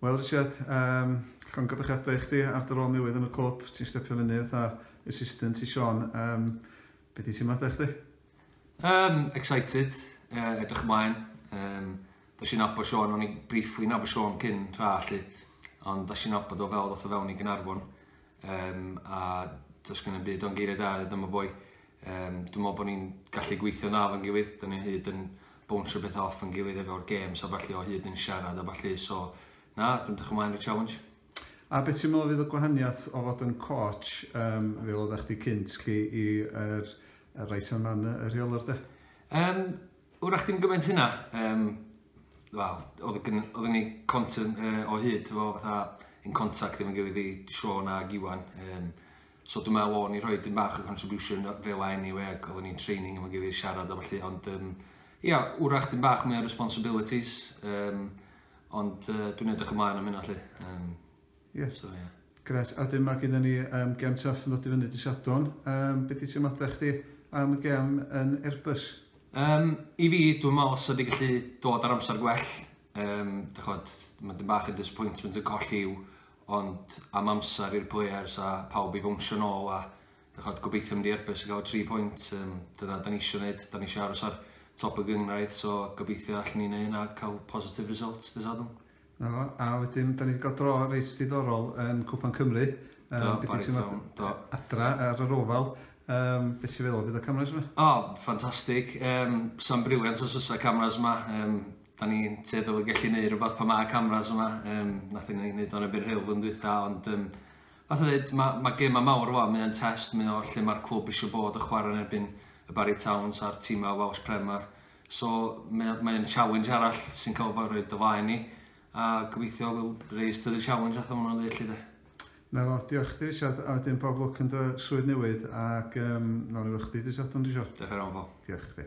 Wel Richard, um, llongydychiadau i chdi ar dy rôl newydd yn y clwb, ti'n stepio fyny fatha assistant i Sean. Um, be di ti'n maddau chdi? Um, excited, uh, edrych ymlaen. Um, da si'n abo Sean, o'n i briefly nabo Sean cyn rha allu, ond da si'n abo do fel ddoth o fewn i Gynarfon. Um, a does gen i'n byd o'n geiriau da i dyma boi. Um, dwi'n meddwl bod ni'n gallu gweithio na fan gilydd, dyn ni hyd yn bwnsio beth off yn gilydd efo'r games a falle o hyd yn siarad a falle, so na, dwi'n dych ymlaen i'r challenge. A beth ti'n meddwl fydd y gwahaniaeth o fod yn coach, um, fel oeddech chdi cynt, chi, i'r er, er Rice and Manor, y rheolwr de? Um, Wrach dim gymaint hynna, um, wel, oeddwn ni content uh, o hyd, fo, fatha, yn contact efo'n gilydd i Sean a Giwan. Um, so dwi'n meddwl o'n i rhoi dim bach o contribution fel a anyway, ac oeddwn ni'n training efo'n gilydd siarad am allu, ond um, ia, wrach dim bach mwy o responsibilities, um, ond uh, dwi'n edrych ymlaen am hynna allu. Um, Yes. So ie. Grêt. A 'dyn ma' gynnon ni yym gem Tuff yn ddod i fyny dy' Sadwrn. Yym be' 'di teimlada chdi am y gem yn Airbus? Yym i fi dwi me'wl sa di gallu dod ar amsar gwell yym dych ch'od ma' dyn bach yn disappointment yn colli Huw ond am amsar i'r players a pawb i fownsio nôl a dych ch'od gobeithio mynd i Airbus a ga'l y tri pwynt yym dyna 'dan ni isio neud 'dan ni isio aros ar top y gynghrair so gobeithio allwn ni neu' hynna a ca'l positive results dy' Sadwrn. 'Na fo, a wedyn 'dan ni 'di ga'l dro reit diddorol yn Cwpan Cymru. Do, bore Sul, do. Adra ar yr ofal, yym be' ti feddwl fydd y cameras 'ma? O, ffantastig, yym sa'n brilliant os fysa cameras 'ma, yym 'dan ni'n tueddol o gellu neud rwbath pan ma' cameras yma, yym nathon ni neud o'n erbyn Hull flwyddyn dwitha ond yym fatha ddeud ma' ma' gema mawr fel 'a mae o'n test mae o lle ma'r clwb isio bod a chwara yn erbyn y Barri Towns a'r tima Welsh Prem 'ma. So mae o mae o'n challenge arall sy'n cael fo roed o flaen ni a gobeithio we'll raise to the challenge fatha ma' nhw'n ddeud 'lly de. Na fo, diolch chdi Richard a wedyn bob lwc yn dy swydd newydd ac yym nawn ni weld chdi dy' Sadwrn dwi isio. Diolch yn fawr Paul. Diolch chdi.